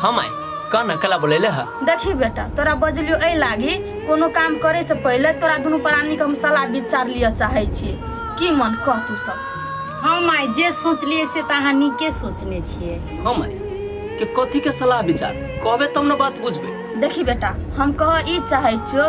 हाँ माई कह ना कला बोलेले ह देखी बेटा तोरा बजलियो एहि लागी कोनो काम करे से पहिले तोरा दुनू प्राणी के हम सलाह विचार लिअ चाहे छी की मन कह तू सब हाँ माय जे सोचलिए से तऽ अहाँ नीके सोचने छियै हाँ माई के कथी के सलाह विचार कहबे तब ना बात बुझबे देखी बेटा हम कह ई चाहे छियो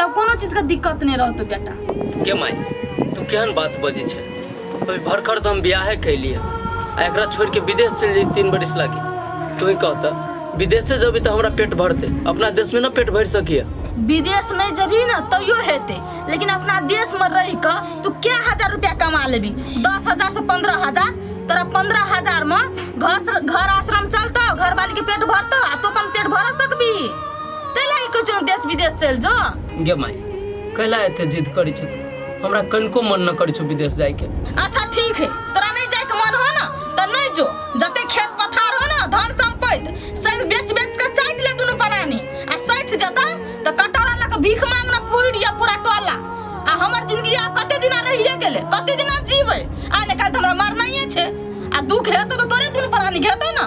तब कोनो चीजके दिक्कत नहि रहतौ बेटा गे माय तू केहन बात बजै छै अभी भरखर तऽ हम बियाहे कैलिए आ एकरा छोड़ के विदेश चलि जाइ तीन बरिस लागी तू ही कह तऽ विदेशे जबी तऽ हमरा पेट भरते अपना देश में ना पेट भर सकिए विदेश नहीं जबी ना तैयो हेते लेकिन अपना देश में रह के तू क्या हजार रुपया कमा लेबी दस हजार से पंद्रह हजार तोरा पंद्रह हजार में घर घर आश्रम चलतो घर वाली के पेट भरतो आ तू अपन पेट भर सकबी ताहि लए कहै छौ देश विदेश चलि जो गे माय कैला एते जिद करै छै तू हमरा कनिको मन न करै छौ विदेश जायके अच्छा ठीक है तोरा नहीं जाए के मन हो ना तो नहीं जो जते खेत पथार हो ना धन संपत्ति सब बेच बेच के चाट ले दुनु परानी आ सठ जता तो कटोरा लग भीख मांगना पूरी दिया पूरा टोला आ हमर जिंदगी आ कते दिना रहिए गेले कते दिना जीवे आ ने काल हमरा मरना ही छे आ दुख हेतौ तो तोरे दुनु परानी घेतौ ना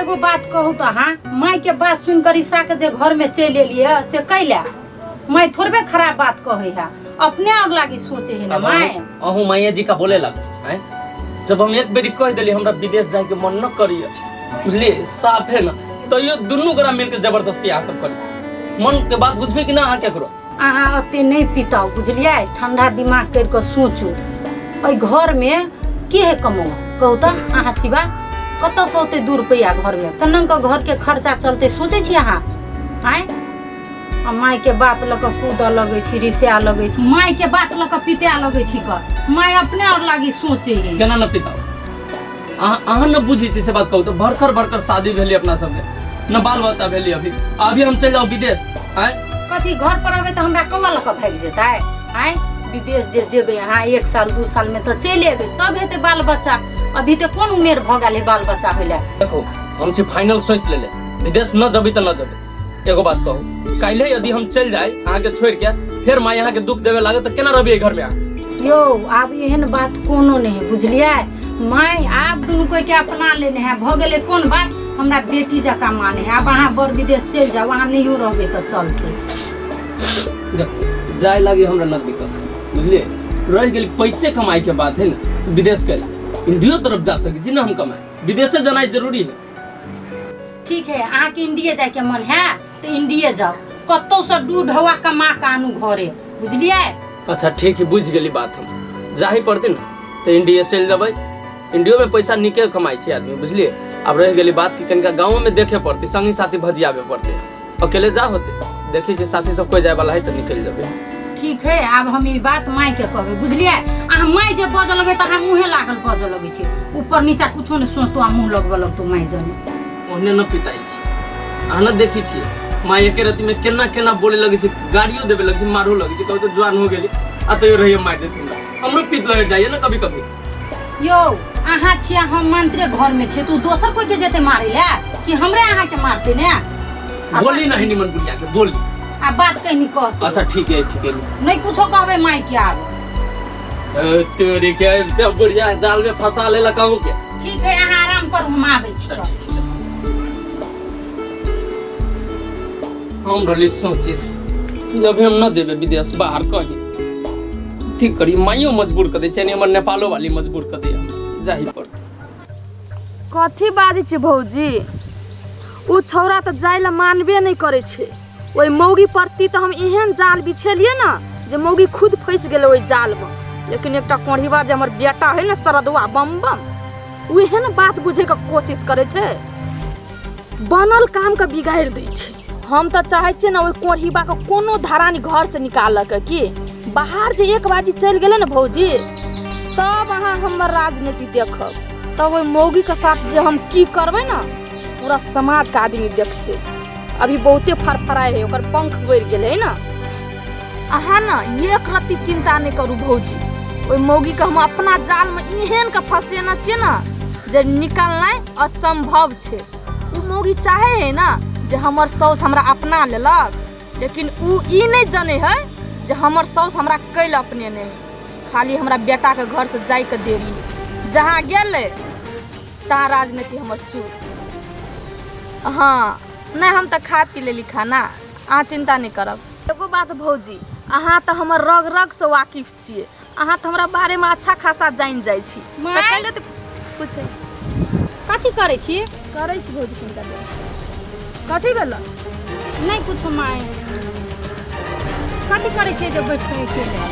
एगो बात कहू तो अहाँ माय के बात सुन कर ईसा के जे घर में चल एलिए से कैला माय थोड़बे खराब बात कहे है अपने और लागी सोचे है ना अब माय अहूँ- अहूँ मैया जी का बोले लग हैं? जब हम एक बेरी कह दिली हमरा विदेश जाए के मन न करिए बुझलिए साफ है ना तैयो दुनू गोरा मिलके जबरदस्ती आ सब करी मन के बात बुझबे कि ना अहाँ केकरो अहाँ ओते नहि पिताउ बुझलियै ठंडा दिमाग करि कऽ सोचू एहि घरमे के है कमौ कहू तऽ अहाँ सिवा कतऽसँ ओते दू रुपैआ घरमे केना कऽ घरके खर्चा चलतै सोचै छी अहाँ आँय आ मायके बात लऽ कऽ कूदऽ लगै छी रिसाए लगै छी मायके बात लऽ कऽ पिताए लगै छी कऽ माय अपने आओर लागी सोचै है केना न पिताउ अहाँ अहाँ न बुझै छी से बात कहू तऽ बड़कर बड़कर शादी भेलै अपना सबके न बाल बच्चा भेलै अभी आ अभी हम चलि जाउ विदेश आँय कथी घर पर अबै तऽ हमरा कौआ लऽ कऽ भागि जेतै आँय विदेश जे जेबै अहाँ एक साल दू सालमे तऽ चलि एबै तब हेतै बाल बच्चा अभी तऽ कोन उमेर भऽ गेल है बाल बच्चा होइले देखो हम छी फाइनल सोच लेले विदेश न जबी तऽ न जबी एगो बात कहू काल्हे यदि हम चल जाए अहाँ के छोड़ के फिर माँ यहाँ के दुख देवे लागे तो केना रहबे घर में अहाँ? यो आब एहन बात कोनो नहीं है बुझलिए माय आप दुनू कोई के अपना लेने है भऽ गेलै कोन बात हमरा बेटी जकाँ माने है आब अहाँ बड़ विदेश चलि जाउ अहाँ नहियो रहबै तऽ चलतै देखो, जाए लागे हमरा न दिक्कत बुझलिए रह गेल पैसे कमाई के बात है ना विदेश के इंडियो तरफ जा सके जी ना हम कमाए विदेशे जाना जरूरी है ठीक है अहाँके इंडिये जायके मन है तऽ इंडिये जाउ कतौसँ डू ढौआ कमा कऽ आनू घरे बुझलियै अच्छा ठीक है बुझि गेली बात हम जाही पड़तै ने तऽ इंडिया चलि जेबै इंडियोमे पैसा नीके कमाइ छै आदमी बुझलियै आब रहि गेली बात कि कनिका गाँवोमे देखे पड़तै सङ्गी साथी भजियाबे पड़तै अकेले जा होते देखी जे साथी सब कोई जाए वाला है तो निकल जाबे ठीक है आब हम ई बात माय के कहबे बुझलियै अहाँ माय जे बजऽ लगे तऽ अहाँ मुँहे लागल बजऽ लगे छै ऊपर नीचा कुछो नहि सोचतो आ मुँह लगबऽ लगतो माय जने ओहने न पिताई छी अहाँ न देखी छी माँ एके रति में केना केना बोले लगे छी गाड़ियों देवे लगे छी मारो लगे छी कभी तो जवान हो गेली आ तो रहिए मार देती हमरो पित लहर जाइए ना कभी कभी यौ अहाँ छियै हम मंत्रे घर में छियै तू दोसर कोई के जेते मारे ले कि हमरे अहाँ के मारते ने आ बोली बात- नहीं निमन बुढ़िया के बोली आ बात कहनी कह अच्छा ठीक है ठीक है नहीं कुछो कहबे माई के आब ए, तेरे के ते बुढ़िया जाल में फंसा ले लकाऊ के ठीक है अहाँ आराम करू हम आबै छी हम रहली सोचे कि अभी हम न जेबे विदेश बाहर कहीं अथी करी माइयो मजबूर कर दै छै हमर नेपालो वाली मजबूर कर दै हम जाही पड़तै कथी बाजै छी भौजी ओ छौड़ा तऽ जाय लए मानबे नहि करै छै ओहि मौगी प्रति तऽ हम एहन जाल बिछेलियै ने जे मौगी खुद फँसि गेलै ओहि जालमे लेकिन एकटा कोढ़ीबा जे हमर बेटा है ने सरदुआ बम बम ओ एहन बात बुझैके कोशिश करै छै बनल कामके बिगाड़ि दै छै हम तऽ चाहै छियै ने ओहि कोढ़ीबाके कोनो धरानी घरसँ निकालऽके की बाहर जे एक बाजी चलि गेलै ने भौजी तब अहाँ हमर राजनीति देखब तब ओहि मौगीके साथ जे हम की करबै ने पूरा समाजके आदमी देखतै अभी बहुते फरफराए है ओकर पंख गड़ गेल है ना अहाँ ना एक रत्ती चिंता नहीं करू भौजी ओहि मौगी के हम अपना जाल में एहन के फंसेना छियै ना जे निकलनाइ असंभव छै ओ मौगी चाहे है ना जे हमर साउस हमरा अपना लेलक लेकिन ओ ई नहि जने है जे हमर साउस हमरा कैल अपने नहि खाली हमरा बेटाके घरसँ जाइके देरी जहाँ गेलै तहाँ राजनीति हमर सुर हाँ नहीं हम तो खा पी लेली खाना अहाँ चिंता नहीं करब एगो बात भौजी अहाँ तो हमर रग रग से वाकिफ छिए अहाँ तो हमरा बारे में अच्छा खासा जान जाइ छी तऽ माय? कैले तऽ कुछ कथी करै छी करै छी भौजी किनका देब कथी भेल नहि कुछो माय कथी करै छियै जे बैठ कऽ अकेले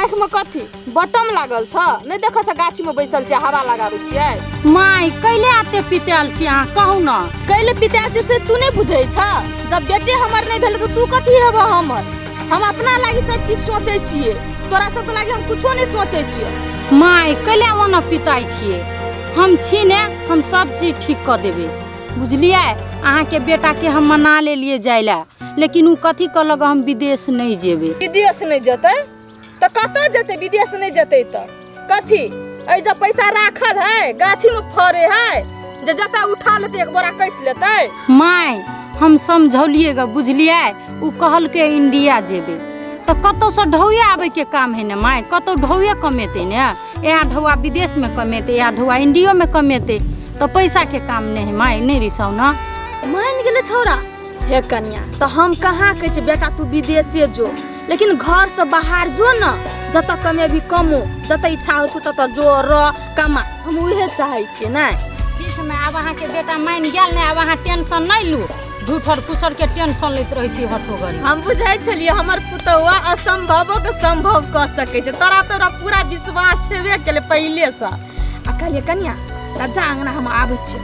आँखिमे कथी बटम लागल छ नहि देखै छ गाछीमे बैसल छियै हवा लगाबै छियै माय कैले आते पिताल छी अहाँ कहू न कैले पिताल छी से तू नहि बुझै छ जब बेटे हमर नहि भेल तऽ तू कथी हेबऽ हमर हम अपना लागि सब किछु सोचै छियै तोरा सबके लागि हम कुछो नहि सोचै छियै माय कैले ओना पिताइ छियै हम छी ने हम सब चीज ठीक कऽ देबै बुझलियै अहाँके बेटाके हम मना लेलियै जाय लए लेकिन ओ कथी कहलक हम विदेश नहि जेबै विदेश नहि जेतै तऽ कतऽ जेतै विदेश नहि जेतै तऽ कथी एहि जब पैसा राखल है गाछी में फरे है जे जतऽ उठा लेतै एक बोरा कैस लेतै माय हम समझौलिए ग बुझलिए उ कहलके इंडिया जेबे तऽ कतौ से ढौए आबे के काम है ने माय कतौ ढौए कमेते ने यहाँ ढौआ विदेश में कमेते यहाँ ढौआ इंडियो में कमेते तऽ पैसा के काम नहीं है माय नहीं रिसाउ ना मान गेले छौरा हे कन्या तऽ हम कहाँ कहै छी बेटा तू विदेशे जो लेकिन घर से बाहर जो न जत कमे भी कमो जत इच्छा हो छौ तत जो रह कमा हम उहे चाहै छियै नै ठीक में आब अहाँ के बेटा मान गेल ने आब अहाँ टेंशन नहीं लू झूठ और कुसर के टेंशन लेत रहे छी हटो गरी हम बुझै छलियै हमर पुतौआ असंभवो के संभव कऽ सकै छै तोरा तोरा पूरा विश्वास छेबे केलै पहिले से आ कहलियै कन्या तऽ जा अंगना हम आबै छियै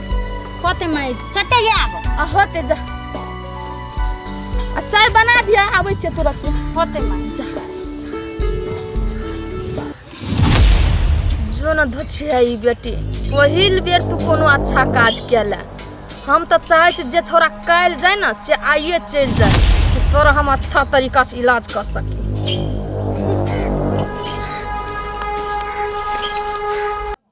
होते मैं चटे आब आ होते जा आ चाय बना दिया आबै छै तुरंत होते मैं जा जो न धछि है ई बेटी पहिल बेर तू कोनो अच्छा काज केला हम तऽ चाहै छी जे छोरा काल जाय ने से आइए चलि जाय कि तोरा हम अच्छा तरीका से इलाज कर सकी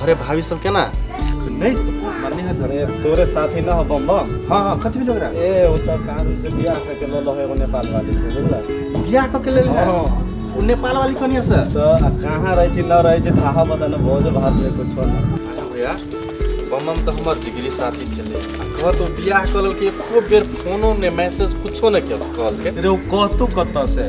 घरे भाभी सब के ना नहीं मरनी है जरे तोरे साथी ना हो बम बम हां हां कथि भी लग रहा है ए ओ त कानून से बियाह करके लो लो है वो नेपाल वाली से बुझला बियाह क के ले ले हां उ नेपाल वाली कनिया से तो आ कहां रहै छी न रहै छी थाहा बता न भोज भात में कुछ हो ना अरे भैया बम बम तो हमर जिगरी साथी से ले आ कह तो बियाह कल के एको बेर फोनो ने मैसेज कुछो ने कल के रे ओ कहतो कत से